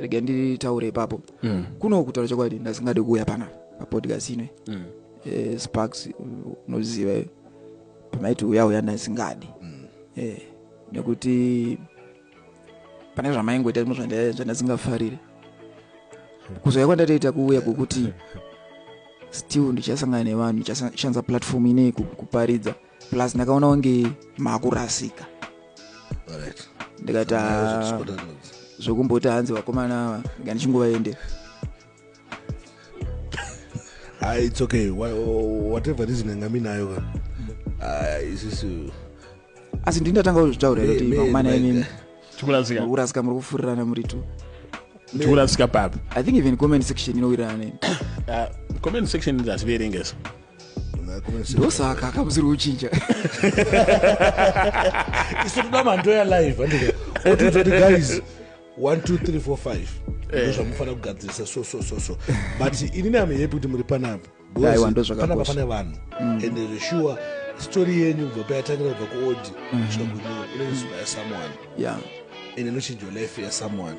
rega nditaure ipapo mm. kuno kutaura chokwadi ndasingade kuuya panapa papodcast ino mm. eh, sparks unoziva eh, pamaiti uya uya ndasingadi mm. eh, nekuti pane zvamaingoita zvimwe zvandasingafarire kuzouya kwandatoita kuuya kwekuti still ndichasangana nevanhu ndichashandisa platform inei kuparidza plus ndakaona kunge makurasika ndikati ah, zvekumboti hanzi vakomana ava ndichingovaendera ah, its okay whatever reason yanga minayo ka ah, isisu asi ndini ndatanga kuzvitaura kuti vakomana imimi kurasika muri kufurirana muri two tikurasika papi i think even comment section inowirirana neni comment section ndativerengesa ndosaka akamusiri kuchinja isu toda mhando yalive andika otiudzati guys 1 2 3 4 5 ndozvamufanira kugadzirisa so so so so but inini am happy kuti muri panapo panapa pane vanhu mm. and zveshuwa story yenyu kubva payatangira kubva kuodi mm. kusvika kunyuwa inoinspire someone and inochinja life yasomeone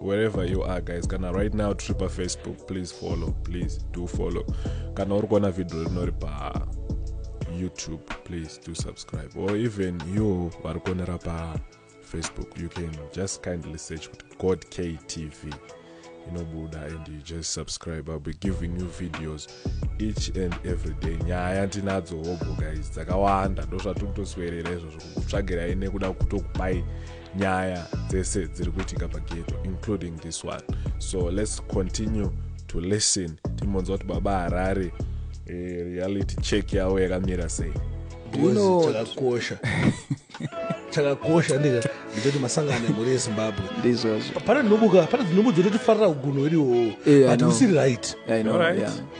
wherever you are guys kana right now tiri pafacebook please follow please do follow kana uri kuona vhidhio rinori pa youtube please do subscribe or even you vari kuonera pa facebook you can just kindly search kuti god ktv inobuda and you just subscribe ill be giving you videos each and every day nyaya tinadzo hobho guys dzakawanda ndozvatiri kutoswerera izvozvo kukutsvagirai nekuda kutokubai nyaya dzese dziri kuitika pageto including this one so let's continue to listen timbonzwa kuti baba harare eh, reality check yavo yakamira sei chakakosha chakakosha ndika ndichoti masangano emhuri yezimbabwe ndizvozvo pana dzinobuka pana dzinhubu dzototifarira ugunhu hwedu ihoho eh, but usiri right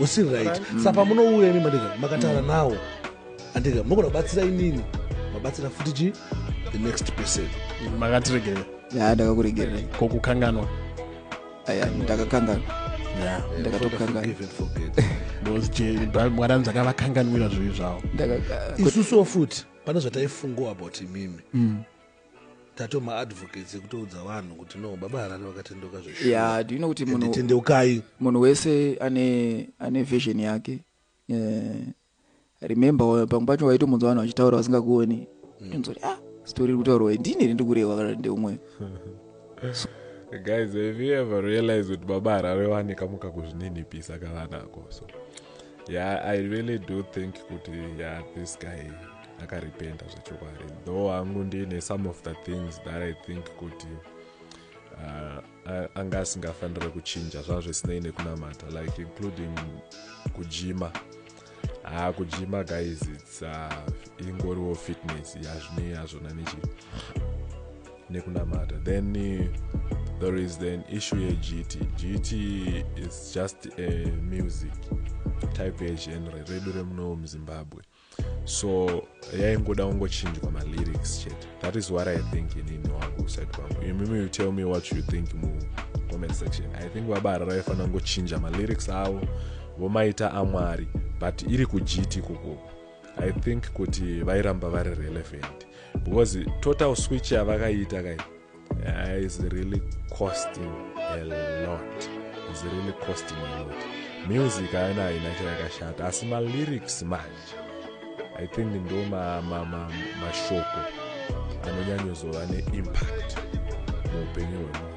usiri right mm. sa pamunouya imi mandika makataura mm. nawo andika munogona kubatsira inini mabatsira futi chi the next person makatiregerera ya ndakakuregerera ko kukanganwa aya ndakakanganwa ndakatokangana mwana anzakavakanganwira zvivi zvavo isusuwo futi pane zvataifungawo about imimi mm. tato maadvocates ekutoudza vanhu kuti no baba harare vakatendeuka zveshuatendeukai munhu wese ane ane vision yake uh, remember pamwe pacho waitomunzwa vanhu vachitaura vasingakuoni mm. inzoti ah story iri kutaurwa ndini iri ndikurehwa kana ndeumwe so, guys have you ever realized kuti baba harare vanekamuka kuzvininipisa kavanako so yeah i really do think kuti yeah this guy akarependa zvechokwadi though hangu ndiine some of the things that i think kuti uh, anga asingafanire kuchinja zvaa zvisinei nekunamata like including kujima haa ah, kujima guys its uh, ingoriwo fitness yazvinei hazvona nechii nekunamata then there is then issue yegt gt is just a music type yegenre redu remunowo muzimbabwe so yaingoda kungochinjwa malyrics chete that is what i think inini wangu uside kwangu imimi you tell me what you think mu comment section i think baba harara vaifanira kungochinja malyrics avo vomaita amwari but iri kugiti ikoko i think kuti vairamba vari relevant because total switch yavakaita kai uh, is really costing a lot is really costing a lot music haina haina chayakashata asi malyrics manje i think ndo mashoko anonyanyozova neimpact muupenyu hwemunhu